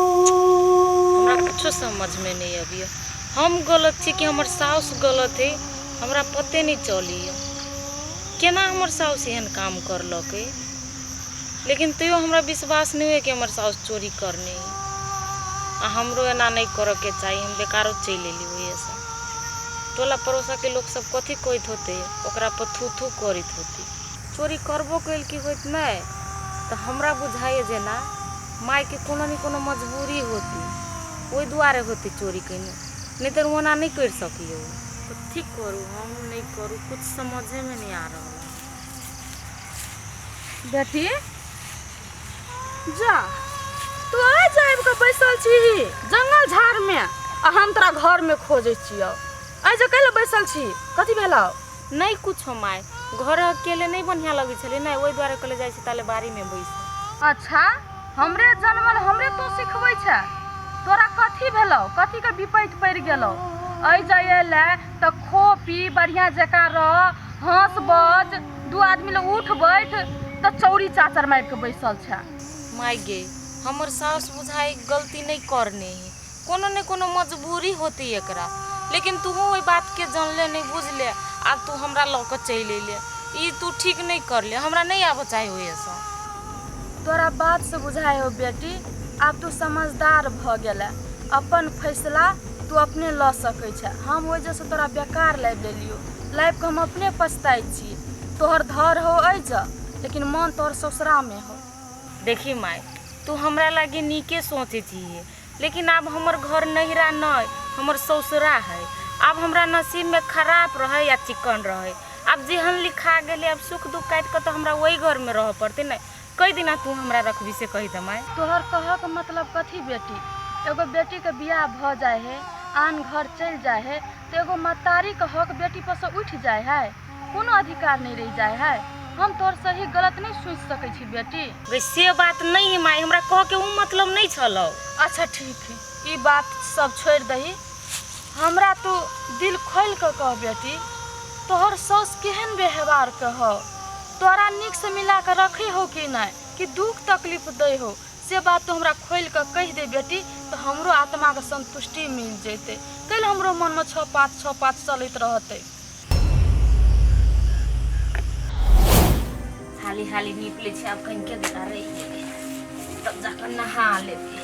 हमरा कुछो समझ में नहीं अबिया हम गलत छी कि हमर साउस गलत है हमरा पते नहीं चली है केना हमर साउस एहन काम करलक है लेकिन तैयो हमरा विश्वास नहीं है कि हमर साउस चोरी करने है आ हमरो एना नहीं करऽ के चाही हम बेकारो चलि एली ओहिसँ टोला परोसा के लोक सब कथी कहित होते ओकरा पर थू थू करित होती। चोरी करबो कइल की होइत नै त हमरा बुझाइए जेना माय के कोनो नै कोनो मजबूरी होती ओइ दुआरे होती चोरी कइने नै त ओना नै करि सकियौ। कथी करू हम नै करू कुछ समझे में नै आ रहल हन। बेटी जा तू आ जाइब के बैसल छी जंगल झाड़ में आ हम तोरा घर में खोजे छियो आइ जे कैले बैसल छी कथी भेलौ नहीं कुछ हो माय घर अकेले नहीं बढ़िया लगे छले नहीं वही द्वारे कले जाए छी ताले बारी में बैस अच्छा हमरे जनमल हमरे तू सिखबै छै तोरा कथी भेलौ कथी के विपैत पड़ि गेलौ आइ जाइए ले तऽ खो पी बढ़िया जकाँ रह हंस बज दू आदमी लोग उठ बैठ तऽ चौरी चाचर मारि के बैसल छै माय गे हमर सास बुझाइ गलती नहीं करने ही कोनो ने कोनो मजबूरी होती एकरा लेकिन तू ओहि बात के जानले नहीं बुझले आ तू हमरा लऽ के चल अयले ई तू ठीक नहीं करले हमरा नहीं आबऽ चाहे हो ऐसा तोरा बात से बुझाय हो बेटी आब तू समझदार भ गेले अपन फैसला तू अपने ल सकै छै हम ओहि जैसे तोरा बेकार लाबि लेलियो लाइफ के हम अपने पछताई छी तोहर धर हो ऐज लेकिन मन तोहर ससुरा में हो देखी माय तू हमरा लागे नीके सोचे छी लेकिन अब हमर घर नहिरा नहीं हमर ससुरा है अब हमरा नसीब में खराब रहे या चिकन रहे अब जेहन लिखा गए अब सुख दुख काट के तो हमरा वही घर में रह पड़ते नहीं कई दिना तू हमरा रखबी से कही दे माय तोहर कह के मतलब कथी बेटी एगो बेटी के बियाह भ जाए है आन घर चल जाए है तो एगो मतारी के हक बेटी पर से उठ जाए है कोनो अधिकार नहीं रह जाए है हम तोहर सही गलत नहीं सोच सके छी बेटी गे से बात नहीं है माय हमरा कह के ऊ मतलब नहीं छलो अच्छा ठीक है ई बात सब छोड़ दही हमरा तू दिल खोल के कह बेटी तोहर सौस केहन व्यवहार के हो तोरा निक से मिला के रखे हो कि नहीं कि दुख तकलीफ दे हो से बात तू हमरा खोल के कह दे बेटी तो हमरो आत्मा के संतुष्टि मिल जैते कल हमरो मन में छः पाँच छः पाँच चलत रहते हाली हाली निकले छे अब कहीं के बेटा रही तब जाकर नहा लेते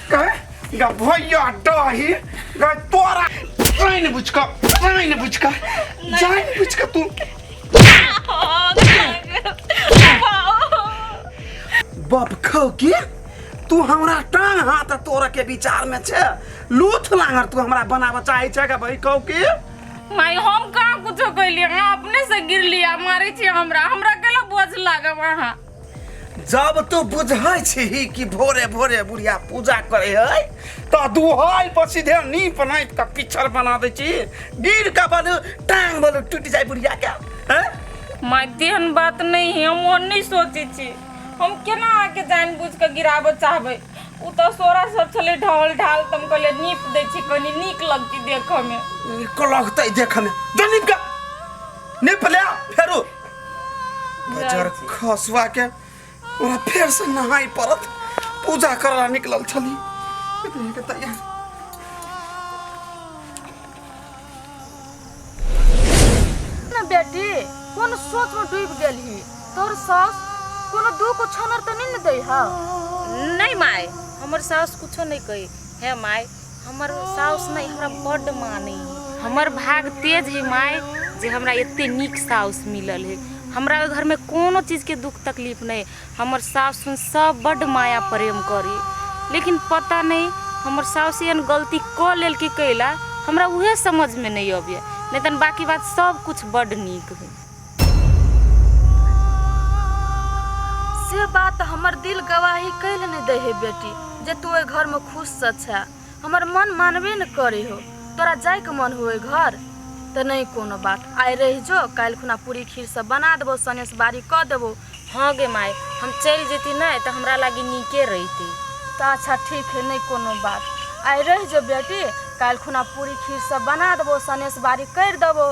गए भैया डही गए तोरा जाइन बुझ का जाइन बुझ का जाइन बुझ का तू बाप खो के तू हमरा टांग हाथ तोरा के विचार में छे लूथ लांगर तू हमरा बनाव चाहे छे का भाई खो के माई हम कहाँ कुछ कैलिए अपने से गिर लिया मारे छी हमरा हमरा के बोझ लागे वहाँ जब तू बुझै छी कि भोरे भोरे बुढ़िया पूजा करे है तो दुहाई पर सीधे नीप नाप के पिछड़ बना दे छी गिर के बल टांग बल टूट जाए बुढ़िया के हैं माय तेहन बात नहीं है हम ओहन नहीं सोचे छी हम केना आके जान बुझ के गिराबऽ चाहबै उ तऽ सोरा सब छलै ढाल ढाल तऽ हम कहलियै नीप दै छी कनी नीक लगती देखऽ मे नीक लगतै देखे में जो नीप के निप ले फेरू बजर खसुआ के ओरा फेर से नहाई पड़त पूजा करला निकलल छली इतनी के तैयार ना बेटी कौन सोच में डूब गेल ही तोर सास कोनो दुख छनर तो नहीं न दे हा नहीं माय हमर सास कुछो नहीं कही हे माय हमर साउस ने हमरा बड माने हमर भाग तेज है माय जे हमरा एते नीक साउस मिलल है हमरा घर में कोनो चीज के दुख तकलीफ नहीं हमर साउस सुन सब बड माया प्रेम करे लेकिन पता नहीं हमर साउस एन गलती क लेल की कैला हमरा उहे समझ में नहीं अबे नहीं तन बाकी बात सब कुछ बड नीक है से बात हमर दिल गवाही कैल नहीं दे है बेटी जे तू ओहि घर में खुश से छे हमर मन मानबे न करे हो तोरा जाय के मन हो घर तो नहीं कोनो बात आय रह जो काल खुना पूरी खीर सब बना देबो सनेस बारी क देबो हाँ गे माय हम चल जेती नहीं तो हमरा लागी नीके रहती तो अच्छा ठीक है नहीं कोनो बात आय रह जो बेटी काल खुना पूरी खीर सब बना देबो सनेस बारी कर देबो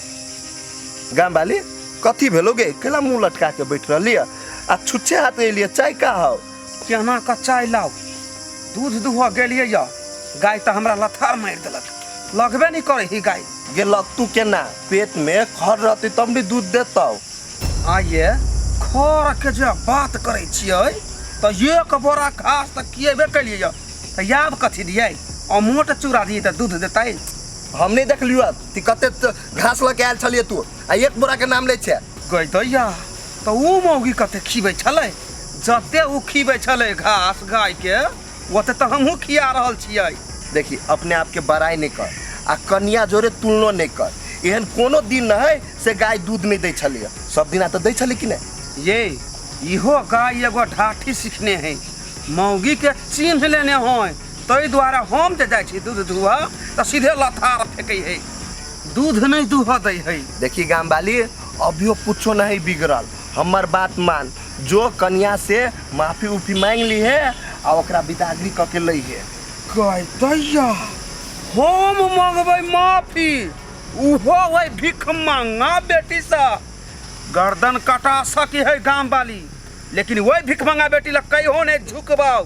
गाम वाली कथी भेलो गे केला मुंह लटका के बैठ रहली है? आ छुच्छे हाथ एलिए चाय का हो केना का चाय लाओ दूध दुह गेलिए या गाय तो हमरा लथार मार देलक लगबे नहीं करे ही गाय गे लगतू केना पेट में खर रहती तब ने दूध देतौ आइए खर के जे बात करे छियै तो एक बोरा घास तो किएबे कलिए या तो याब कथी दिए अमोट चूड़ा दिए तो दूध देतै हम नहीं देखलियो अब ती कते त- घास लऽ के आयल छलिए तू आ एक बोरा के नाम लै छै गई दैया तऽ ओ मौगी कते खीबै छलै जते ओ खीबै छलै घास गायके ओते तऽ हमहूँ खिया रहल छियै देखी अपने आप के बड़ाई नहीं कर आ कन्या जोरे तुलनो नहीं कर एहन कोनो दिन न है से गाय दूध नहीं दै छलिए सब दिना तऽ दै छली कि नहीं ये इहो गाय एगो ढाठी सीखने है मौगी के चिन्ह लेने है ताहि दुआरे हम जे जाइ छी दूध दुहऽ तऽ सीधे लथार फेकै है दूध नहि दुहऽ दै है देखी गाम वाली अभियो कुछो नहीं बिगड़ल हमर बात मान जो कन्या से माफी उफी मांग ली है आ ओकरा बिदागरी क के लई है कह दैया हम मंगबै माफी उहो वही भिख मांगा बेटी से गर्दन कटा सकी है गाम वाली लेकिन वही भिख मांगा बेटी लग कहियो नहीं झुकबाऊ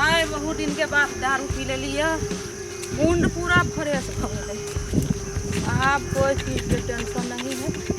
आइ बहुत दिनके बाद दारू पी लेलियै मुंड पूरा फ्रेश भऽ गेलै आब कोइ चीजके टेंशन नहीं है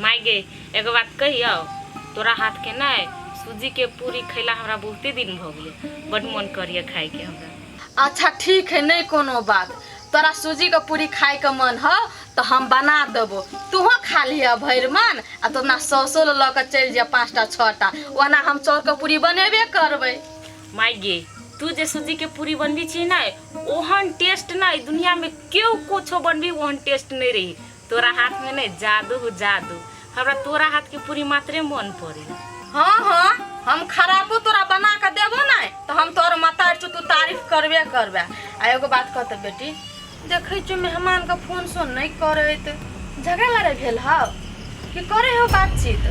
माय गे एगो बात कहियो तोरा हाथ के नहीं सूजी के पूरी खैला हमरा बहुते दिन भ गेले बड मन करिए खाए के हमरा अच्छा ठीक है नहीं कोनो बात तोरा सूजी के पूरी खाए के मन हो तो हम बना देबो तूहो खा लिह भर मन आ तो अपना सौसो ल के चल जा पाँचटा छटा ओना हम चौर के पूरी बनेबे करबे माय गे तू जे सूजी के पूरी बनबी छी नहीं ओहन टेस्ट नहीं दुनिया में केहू कुछो बनबी ओहन टेस्ट नहीं रही तोरा हाथ में नहीं जादू हो जादू हमरा तोरा हाथ के पूरी मात्रे मन पड़ी हाँ हाँ हम खराबो तोरा बना के देबो ना तो हम तोर मतार चु तू तारीफ करबे करबे आ एगो बात कहते बेटी देखै छु मेहमान के फोन सो नहीं करैत झगड़ा लड़ाई भेल हौ कि करे हो बातचीत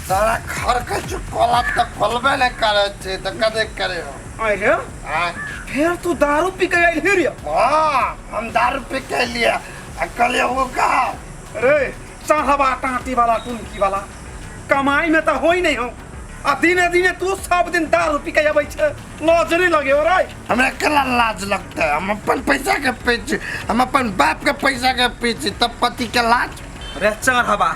तोरा घर के चुकोला तो खोलबे नहीं करे छे तो कदे करे हो आय रे हाँ फेर तू दारू पी के आइल हे रे हाँ, हम दारू पी के लिए आ कहलिए वो का रे चाहबा टाटी वाला टुनकी वाला कमाई में तो होई नहीं हो आ दिने दिने तू सब दिन दारू पी के आबै छे लाज नहीं लगे हो रे हमरा केना लाज लगता है हम अपन पैसा के पीछे हम अपन बाप के पैसा के पीछे तब पति के लाज रे चाहबा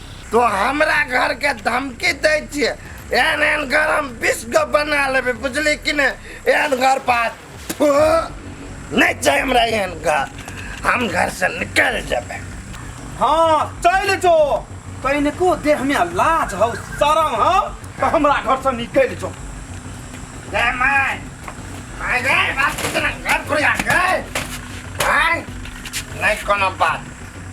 तो हमरा घर के धमकी दै छियै एहन एहन घर हम बीस गो बना लेबै बुझली कि ने एहन घर पास थू, नहि छै हमरा एहन घर हम घर से निकल जेबै हाँ चल जो तैने को देह में लाज हौ शरम हौ तो हमरा घर से निकल जो ए माय माय गे बात कितना घर पुरिया गे माय नहि कोनो बात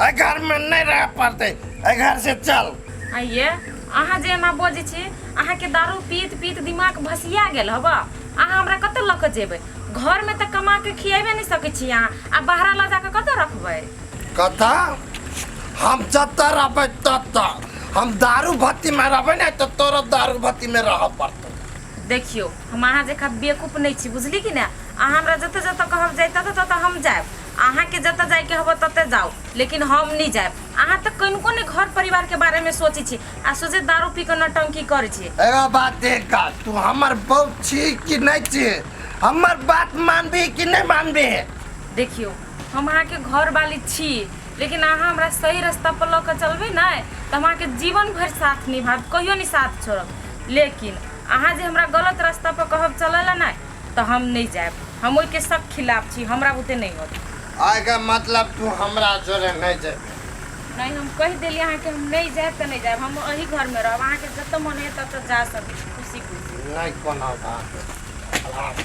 एहि घर में नहीं रह पड़ते एहि घर से चल आइये अहाँ जे एना बजै छी अहाँके दारू पीत पीत दिमाग भसिया गेल हबऽ अहाँ हमरा कतऽ लऽ कऽ जेबै घरमे तऽ कमा कऽ खिएबे नहि सकै छी अहाँ आ बाहरा लऽ जा कऽ कतऽ रखबै कथा हम जतऽ रहबै ततऽ हम दारू भट्टी में रहबै ने तऽ तोरो दारू भट्टी में रह पड़तो देखियौ हम अहाँ जकाँ बेवकूफ नहि छी बुझली कि ने अहाँ हमरा जतऽ जतऽ कहब जाय ततऽ ततऽ हम जायब अहाँ के जतऽ जाय के होबऽ ततऽ जाउ लेकिन हम नै जायब। अहाँ तऽ कनिको नै घर परिवार के बारे में सोचै छी आ सोझे दारू पी कऽ नौटंकी करै छी। एगो बात देख गा तू हमर बहू छी कि नै छी हमर बात मानबीही कि नै मानबीही। देखियौ हम अहाँ के घर बाली छी लेकिन अहाँ हमरा सही रस्ता पर लऽ कऽ चलबै नै तऽ हम अहाँ के जीवन भैर साथ निभायब कहियो नै साथ छोड़ब लेकिन अहाँ जे हमरा गलत रस्ता पर कहब चलऽ लऽ नै तऽ हम नहीं जाए हम ओहि के सब खिलाफ छी हमरा बुते नहीं होत आय के मतलब तू हमरा जोरे नहीं जाए नहीं हम कह दिली अहाँ के हम नहीं जाए तऽ नहीं जाए हम अही घर में रहब अहाँ के जत मन है तत जा सकै छी खुशी खुशी नहीं कोनो बात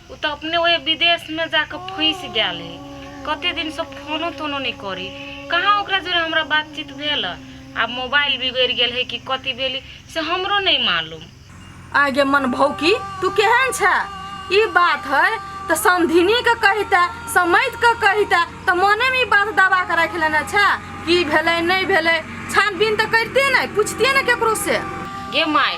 ओ तऽ अपने ओहि विदेशमे जाके फँसि गेल है कते दिनसँ फोनो तोनो नहि करी कहाँ ओकरा जोरे हमरा बातचीत भेल आ मोबाइल बिगड़ि गेल है कि कथी भेली से हमरो नहीं मालूम आगे मन भौकी तू केहन छ ई बात है तऽ समधिनी के कहिता समैत के कहिता तऽ मने में ई बात दबा के रख लेना छ की भेलै नहीं भेलै छानबीन तऽ करिते नहीं पूछतिए ने केकरो से गे माय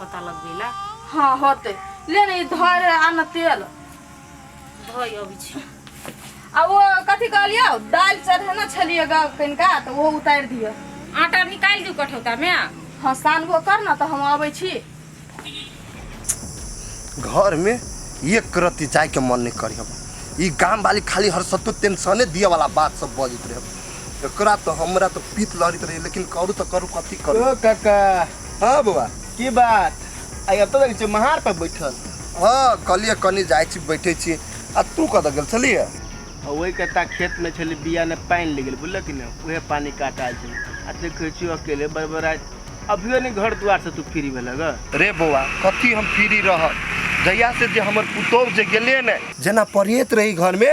पता लगबे ला हाँ होते ले नहीं धर आना तेल धोई अभी छी आ वो कथी कहलियो दाल चढ़ेना छलिए गा कनिका तो वो उतार दियो आटा निकाल दू कठौता में हाँ सानबो कर ना तो हम आबै छी घर में एक रत्ती जाए के मन नहीं करी हम ई गांव वाली खाली हर सत्तू टेंशने दिए वाला बात सब बजित रहे एकरा तो हमरा तो पीत लहरित रहे लेकिन करू तो करू कथी करू ओ काका हाँ बौआ की बात आइ अब तो लगे छै महार पर बैठल हाँ कहलिए कनी जाय छी बैठे छी आ तू कत गेल छलिए आ वही कता खेत में छली बिया ने पानी ले गेल बुझल कि ना उहे पानी काट आयल छली आ देखे छी अकेले बड़बड़ाय अभियो ने घर द्वार से तू फ्री भेल ग रे बौआ कथी हम फ्री रह जहिया से जे हमर पुतोह जे गेले ने जेना परेत रही घर में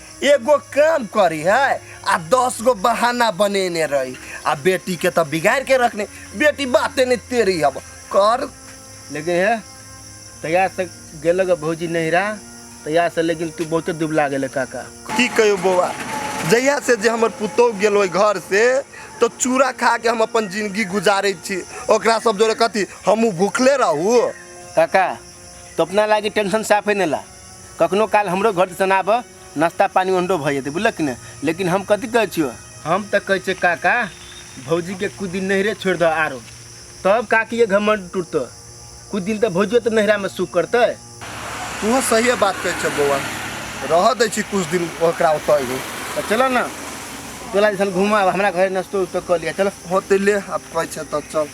एगो काम करी है आ दस गो बहाना बनेने रही आ बेटी के तो बिगाड़ के रखने बेटी बातें नहीं तेरी अब कर लेकिन है तैयार से गेलो गे भौजी नहिरा तैयार से लेकिन तू बहुते दुबला गेले काका की कहो बौआ जहिया से जे हमर पुतोह गेल ओहि घर से तो चूड़ा खा के हम अपन जिंदगी गुजारे छी ओकरा सब जोरे कथी हमहूँ भूखले रहू काका तो अपना लागी टेंशन साफे नहीं ला कखनो काल हमरो घर दिसन आबह नाश्ता पानी ओहनो भऽ जेतै बुझलक कि ने लेकिन हम कथी कहै छियौ हम तऽ कहै छियै काका भौजीके कुछ दिन नहिरे छोड़ि दह आरो तब काकीके घमंड टूटतौ कुछ दिन तऽ भौजियो तऽ नहिरामे सुख करतै तूहो सहिए बात कहै छह बौआ रहऽ दै छी किछु दिन ओकरा ओतऽ ही तऽ चलऽ ने तोरा दिसन घुमा हमरा घर नाश्तो उस्तो कऽ लिअ चलऽ होते ले आब कहै छह तऽ चल